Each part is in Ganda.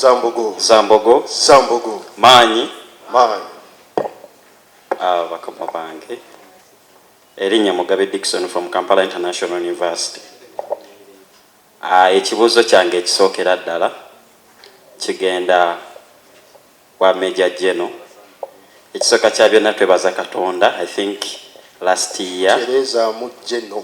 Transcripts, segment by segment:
Zambogo. Zambogo. Zambogo. Maanyi. Maanyi. Ah, bakama bange. Erinnya Mugabe Dickson from Kampala International University. Ah, ekibuuzo kyange ekisookera ddala kigenda wa Major General. Ekisooka kya byonna twebaza Katonda. I think last year. Tereza mu General.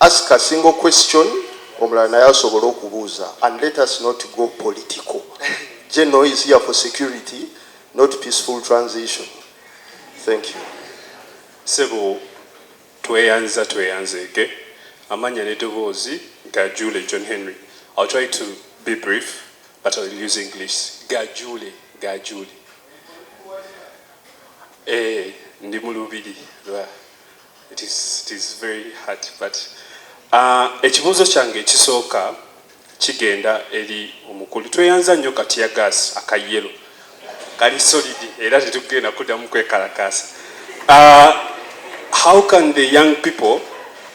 Ask a single question omulala naye asobole okubuuza and let us not go political General is here for security not peaceful transition thank you. Ssebo tweyanza tweyanzeege amannya n'edoboozi Gajuule John Henry I'll try to be brief but I'll use English Gajuule Gajuule eh ndi mu lubiri lwa It is, it is very hard but uh, ekibuuzo kyange ekisooka kigenda eri omukulu tweyanza nnyo katiya gas akayelo kali solid era tetugenda kuddamu kwekalakaasa uh, how can the young people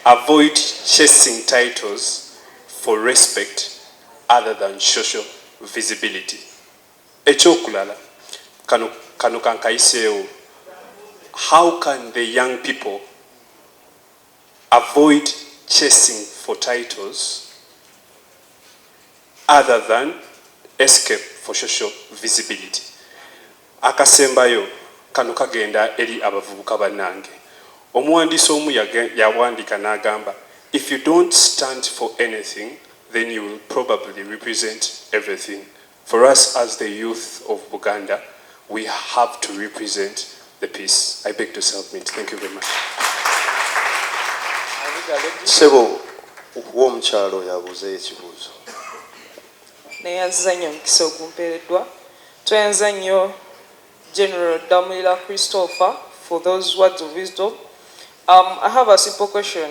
avoid chasing titles for respect other than social visibility Ekyokulala kano kano kankayiseewo how can the young people avoid chasing for titles other than escape for social visibility akasembayo kano kagenda eri abavubuka banange omuwandiisi omu yawandiika nagamba if you don't stand for anything then you will probably represent everything For us as the youth of Buganda we have to represent the peace I beg to submit thank you very much. Sebo okuwa omukyalo yabuze ekibuzo. Neyanzanyo mkiso gumperedwa. Tweyanzanyo General Damulila Christopher for those words of wisdom. Um, I have a simple question.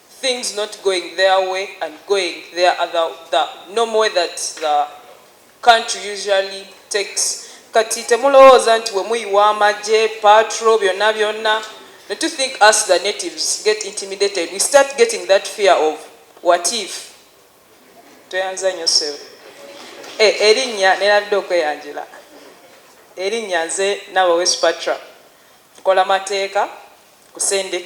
things not going their way and going their other the normal way that the country usually takes kati temulowooza nti wemuyiwa amagye patro byonna byonna not to think us the natives get intimidated we start getting that fear of what if tweyanza nyo sewe e, eh, erinnya nenabidde okweyanjula erinnya nze nawe wespatra nkola mateeka kusende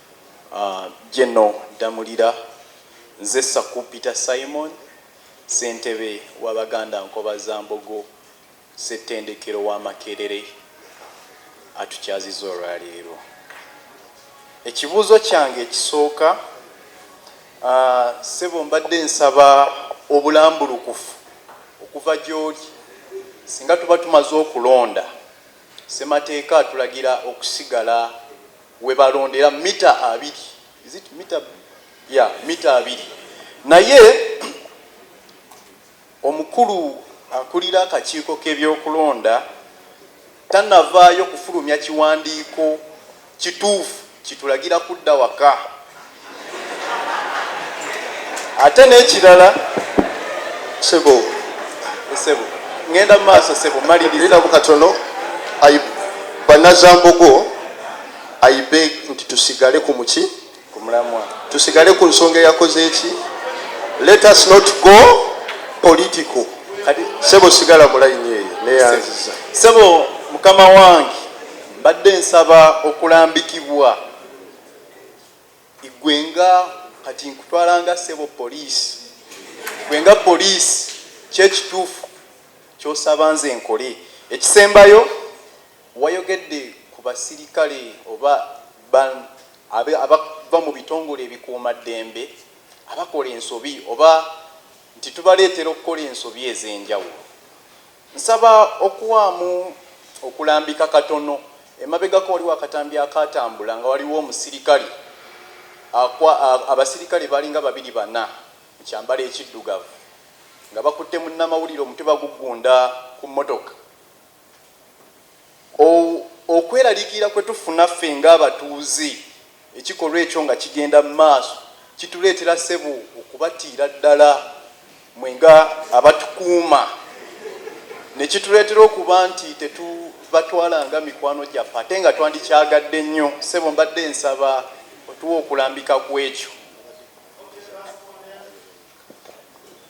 Geno Ddamulira, Nze Sakupita Simon, Ssentebe wa Baganda Nkobazambogo Ssettendekero wa Makerere atukyaziza olwaleero. Ekibuuzo kyange ekisooka, Ssebo mbadde nsaba obulambulukufu okuva gyoli, singa tuba tumaze okulonda, Ssemateeka atulagira okusigala we balondera mita abiri is it mita ya mita abiri naye omukulu akulira akakiiko k'ebyokulonda tanavaayo kufulumya kiwandiiko kituufu kitulagira kudda waka. ate n'ekirala sebo sebo ngenda mu maaso sebo maliriza bukatono banazambogo aibe nti tusigale ku muki ku mulamwa tusigale ku nsonga eyakoze eki let us not go political sebo sigala mulayini eyo neyanziza sebo mukama wange mbadde nsaba okulambikibwa gwe nga kati nkutwala nga ssebo poliisi gwe nga poliisi kyekituufu kyosaba nze nkole ekisembayo wayogedde ku basirikale oba abava mu bitongole ebikuuma ddembe abakola ensobi oba nti tubaleetera okukola ensobi ez'enjawulo Nsaba okuwaamu okulambika katono. Emabegako waliwo akatambi akaatambula nga waliwo omusirikale akwa, abasirikale balinga babiri bana mu kyambalo ekiddugavu nga bakutte munnamawulire omutwe baguggunda ku mmotoka. O, okweraliikirira kwe tufuna ffe nga abatuuze, ekikolwa ekyo nga kigenda mu maaso, kituleetera, ssebo, okubatiira ddala, mmwe nga abatukuuma, ne kituleetera okuba nti tetubatwala nga mikwano gyaffe, ate nga twandikyagadde nnyo. Ssebo, mbadde nsaba otuwe okulambika ku ekyo.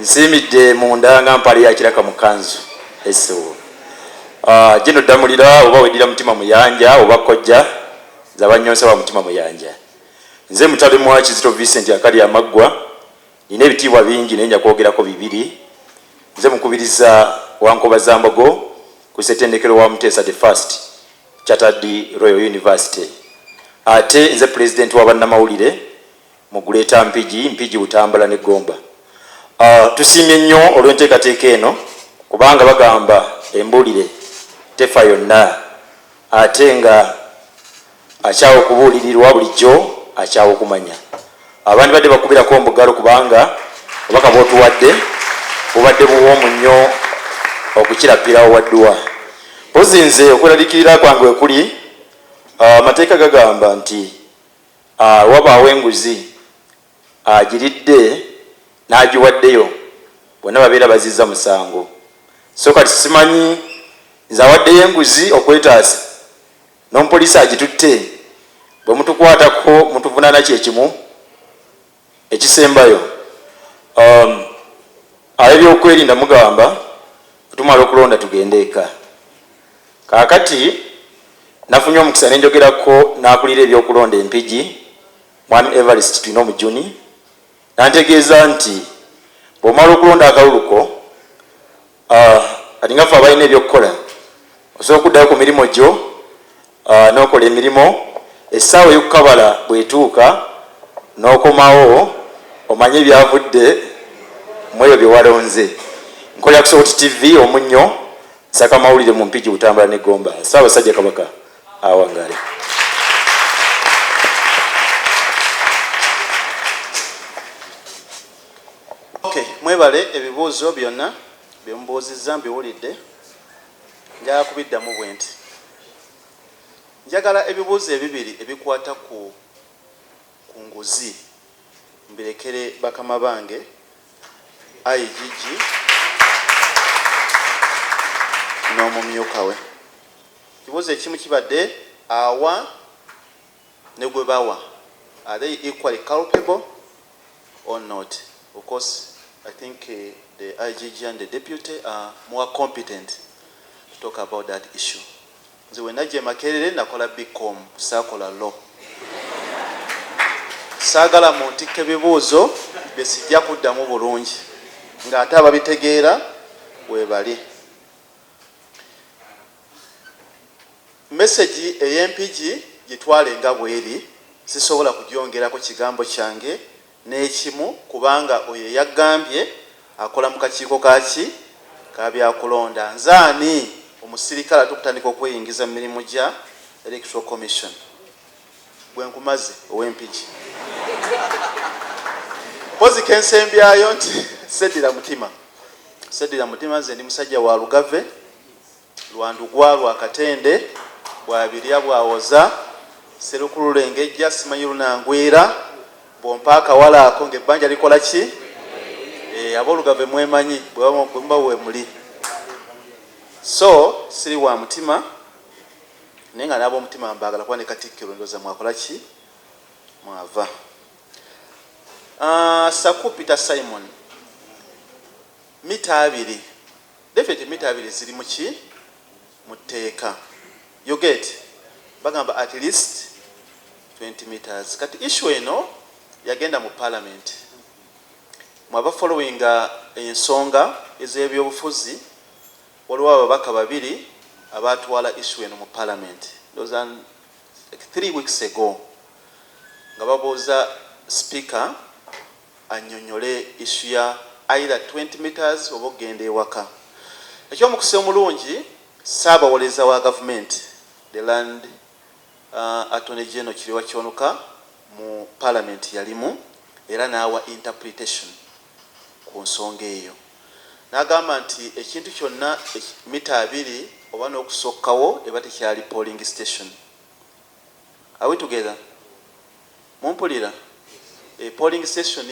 nsiimidde munda nga mpale ya kiraka mu kanzu esewo ah, gino ddamulira oba weddira mutima muyanja oba kojja zabanyonsa wa mutima muyanja nze mutale mwa kizito vincent akali amaggwa nina ebitiibwa bingi naye nja kwogerako bibiri nze mukubiriza wankoba zambogo ku setendekero wa muteesa the first chatterdi royal university ate nze pulezidenti wa bannamawulire mu Greater Mpigi, Mpigi, Butambala ne Gomba. Tusiimye nnyo olw'enteekateeka eno kubanga bagamba embuulire tefa yonna ate nga akyawa okubuulirirwa bulijjo akyawa okumanya. Abandibadde bakubirako mbugalo kubanga obubaka bw'otuwadde bubadde buwoomu nnyo okukira ppiraawo wa dduwa. Mpozzi nze okweraliikirira kwange we kuli, amateeka gagamba nti. Aa wabaawo enguzi agiridde n'agiwaddeyo bonna babeera bazizza musango so kati simanyi nze awaddeyo enguzi okwetaasa n'omupoliisi agitutte bwe mutukwatako mutuvunaana kye kimu? Ekisembayo, um, abebyokwerinda mugamba tumala okulonda tugende eka. Kakati nafunye omukisa nenjogerako nakulira ebyokulonda empigi mwami Evarist Twino Mujuni nantegeeza nti bwomala okulonda akaluluko Ah, kati nga ffe abalina ebyokukola osobola okuddayo ku mirimu gyo ah, n'okola emirimu essaawa ey'okukabala bw'etuuka n'okomawo omanye ebyavudde mu ebyo bye walonze. Nkolera ku Sowoti TV Omunnyo, nsaka amawulire mu Mpigi, Butambala ne Gomba. Ssaabasajja Kabaka awangaale. Okay, mwebale ebibuuzo byonna bye mubuuzizza mbiwulidde. Njagala kubiddamu bwe nti njagala ebibuuzo ebibiri ebikwata ku ku nguzi mbirekere bakama bange IGG n'omumyuka we. Ekibuuzo ekimu kibadde awa ne gwe bawa are they equally culpable or not of course I think the IGG and the deputy are more competent to talk about that issue nze we najja e Makerere nakola bcom saakola law saagala muntikka ebibuuzo bye sijja kuddamu bulungi ng'ate ababitegeera weebali Mesegi ey'empigi gitwale nga bw'eri, sisobola kugyongerako kigambo kyange n'ekimu kubanga oyo eyaggambye akola mu kakiiko ka ki? ka byakulonda. Nze ani? Omusirikale ate okutandika okweyingiza mu mirimu gya Electoral Commission. Ggwe nkumaze, ow'empigi. Mpozzi ke nsembyayo nti sseddira mutima. Sseddira mutima, nze ndi musajja wa Lugave. lwa ndugwa lwa Katende, bw'abirya bw'awoza, Sserukulu lengejja simanyi lunangwira, bw'ompa akawala ako ng'ebbanja likola ki? Eeh, aboolugave mwemanyi bwe muba weemuli. So siri wa mutima naye nga n'ab'omutima mbaagala kuba ne Katikkiro ndowooza mwakola ki? Mwava. Aah, Ssaku Peter Simon, mita abiri. David emita abiri ziri muki mutteeka you get bagamba at least 20 meters kati issue eno yagenda mu parliament mwaba following ensonga ez'ebyobufuzi waliwo ababaka babiri abatwala issue eno mu parliament those are like three weeks ago nga babuuza speaker anyonyole issue ya either twenty metres oba okugenda ewaka. Ekyomukisa omulungi Ssaabawolereza wa gavumenti the land Attorney General Kireewa Kyonuka mu palamenti yalimu era n'awa interpretation ku nsonga eyo n'agamba nti ekintu kyonna mita abiri oba n'okusokkawo eba tekyali polling station. Are we together? Mumpulira? E polling station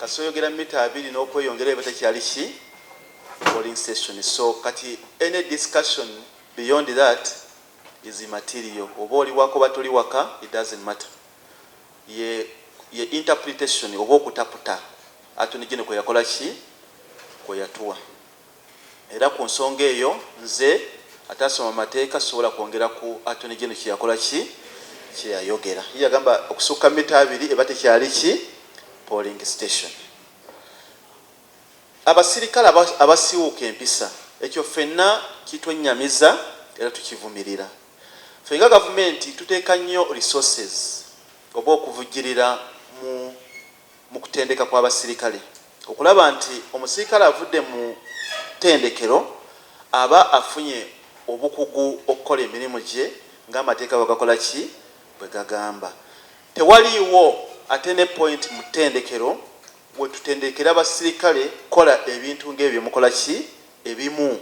kasita oyogera mita abiri nokweyongera eba tekyali ki polling station so kati any discussion beyond that is immaterial oba oli waka oba toli waka it doesn't matter ye ye interpretation oba okutaputa Attorney General kweyakola ki kweyatuwa Era ku nsonga eyo nze ataasoma mateeka sisobola kwongera ku Attorney General kye yakola ki kye yayogera. Ye yagamba okusukka mita abiri eba tekyali ki polling station. Abasirikale aba abasiiwuuka empisa ekyo ffenna kitwennyamiza era tukivumirira. Ffe nga gavumenti tuteeka nnyo resources oba okuvujjirira mu. mu kutendeka kw'abasirikale okulaba nti omusirikale avudde mu ttendekero aba afunye obukugu okukola emirimu gye ng'amateeka bwe gakola ki? Bwe gagamba. Tewaliiwo attending point mu ttendekero we tutendekera basirikale kukola ebintu ng'ebyo bye mukola ki? Ebimu.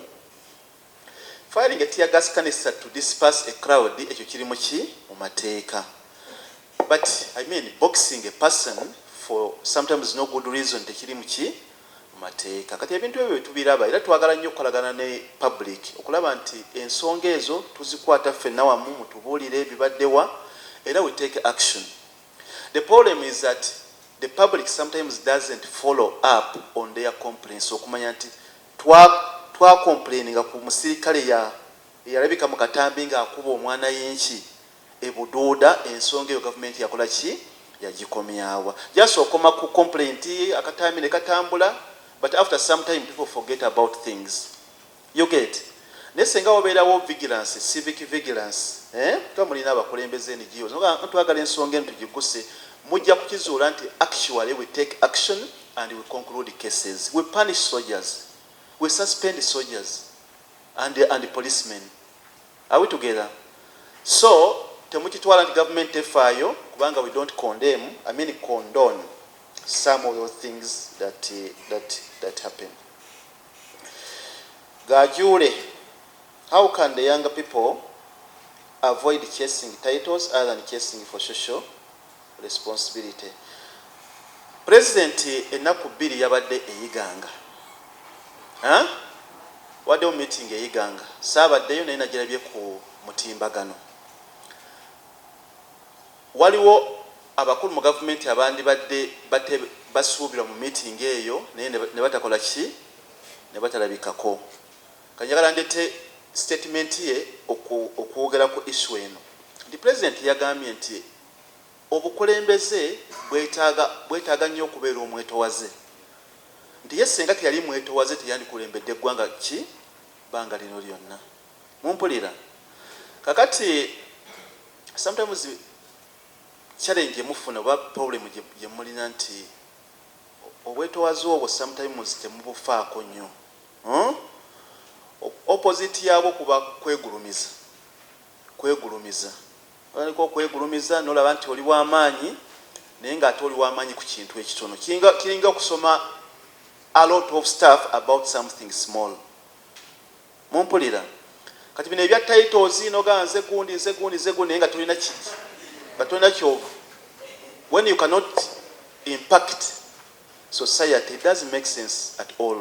Firing a tear gas canister to disperse a crowd ekyo kiri mu ki mu mateeka? But I mean boxing a person for sometimes no good reason tekiri mu ki mu mateeka? Kati ebintu ebyo tubiraba era twagala nnyo okukolagana ne public okulaba nti ensonga ezo tuzikwata ffenna wamu mutubuulire bibadde wa era we take action. The problem is that the public sometimes doesn't follow up on their complaints okumanya nti Twa twa complaininga ku musirikale ya eyalabika mu katambi nga akuba omwanayinki e Buduuda ensonga eyo gavumenti yakola ki? Yagikomyawa? Just okoma ku complaint akatambi ne katambula but after some time people forget about things u get. Naye senga waberawo vigilance, civic vigilance eeh kuba mulina abakulembeze NGOs nga nga twagala ensonga eno tugiguse mujja kukizuula nti actually we take action and we conclude cases, we punish soldiers, we suspend soldiers and and policemen are we together so temukitwala nti government tefaayo kubanga we don't condemn, I mean condone some of those things that that that happen. Gajuule how can the young people avoid chasing titles other than chasing for social responsibility president ennaku bbiri yabadde eyiganga waddewo meeting eyiganga saabaddeyo naye nagirabye ku mutimbagano Waliwo abakulu mu gavumenti abandibadde bate basuubirwa mu miitingi eyo naye ne batakola ki? Ne batalabikako. Kati njagala ndeete sitetimenti ye oku, okwogera ku issue eno nti Pulezidenti yagambye nti obukulembeze bwetaaga, bwetaaga nnyo okubeera omwetowaze. Nti ye ssenga teyali mwetowaze teyandikulembedde ggwanga ki? Bbanga lino lyonna. Mumpulira? Kakati, sometimes challenge gye mufuna oba problem gye, gye mulina nti obwetowaze obwo sometimes temubufaako nnyo. Huh? O- Opposite yaabwo kuba kwegulumiza. Kwegulumiza. Otandika okwegulumiza n'olaba nti oli wa maanyi, naye ng'ate oli wa maanyi ku kintu ekitono. Kiringa, kiringa okusoma a lot of stuff about something small. Mumpulira? Kati bino ebya titles nogamba nze gundi nze gundi nze gundi naye nga tolina ki nga tolina kyova when you cannot impact society it doesn't make sense at all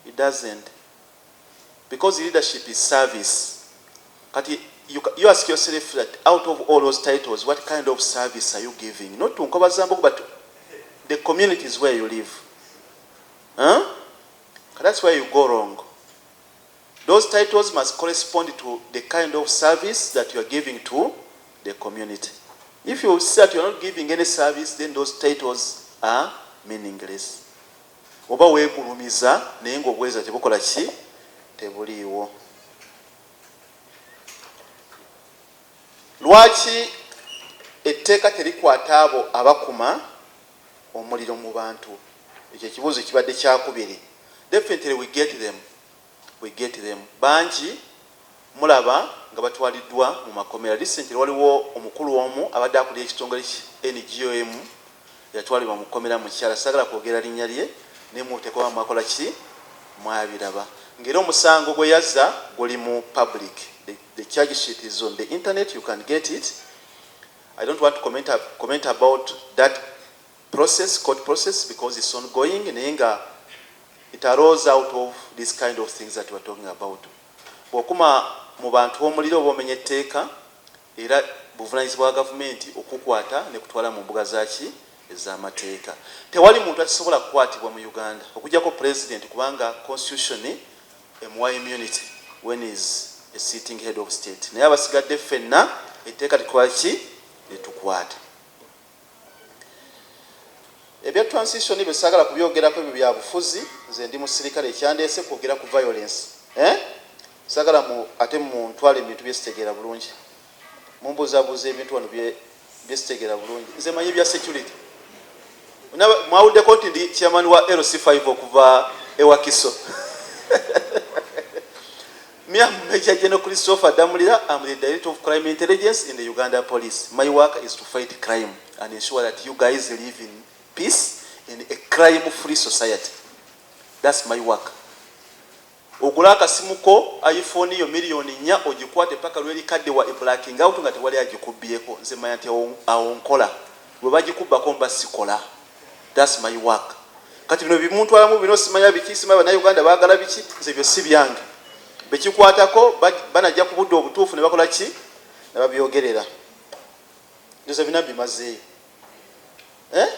it doesn't because leadership is service kati you, you ask yourself that out of all those titles what kind of service are you giving not to nkobazambuku but the communities where you live huh? That's where you go wrong. Those titles must correspond to the kind of service that you are giving to the community. If you see that you are not giving any service, then those titles are meaningless. Oba wegulumiza naye ng'obweza tebukola ki tebuliiwo. Lwaki etteeka terikwata abo abakuma omuliro mubantu ekyo ekibuuzo kibadde kyakubiri definitely we get them we get them bangi mulaba nga batwaliddwa mu makomera recently waliwo omukulu omu abadde akulira ekitongole ki NGO emu yatwalibwa mu kkomera mukyala sagala kwogera linnya lye naye mubuteeka oba mwakola ki mwabiraba nga era omusango gweyazza guli mu public the charge sheet is on the internet you can get it I don't want to comment comment about that process court process because it's ongoing naye nga it arose out of this kind of things that we're talking about bwokuma mu bantu omuliro oba omenya etteeka era buvunanyizibwa bwa gavumenti okukwata ne kutwala mu mbuga zaki ez'amateeka tewali muntu akisobola kukwatibwa mu uganda okujjako pulezidenti kubanga constitution Emuwa immunity when he is a sitting head of state naye abasigadde ffenna etteeka likolaki litukwata. Ebya transition ebyo sagala kubyogerako ebyo bya bufuzi nze ndi musirikale ekyandeese kwogera ku violence eh sagala mu ate mu ntwale mu bintu byesitegeera bulungi. Mumbuzabuza ebintu wano bye bye sitegera bulungi. Nze manyi bya security. Naba mwawudde ko nti ndi chairman wa LC5 okuva ewa Kiso. Me am Major General Christopher Damulira. I'm the Director of Crime Intelligence in the Uganda Police. My work is to fight crime and ensure that you guys live in peace in a crime free society. That's my work. Ogule akasimu ko iPhone yo million nnya ogikwate paka lwerikaddiwa iblacking out nga tewali agikubbyeko nze manya nti awo nkola bwebagikubbako mba sikola that's my work kati bino byemuntwalamu bino simanya biki simanya banauganda bagala biki nze ebyo sibyange bekikwatako banajja kubudde obutuufu nebakola ki nebabyogerera nze bina bimazeeyo eh?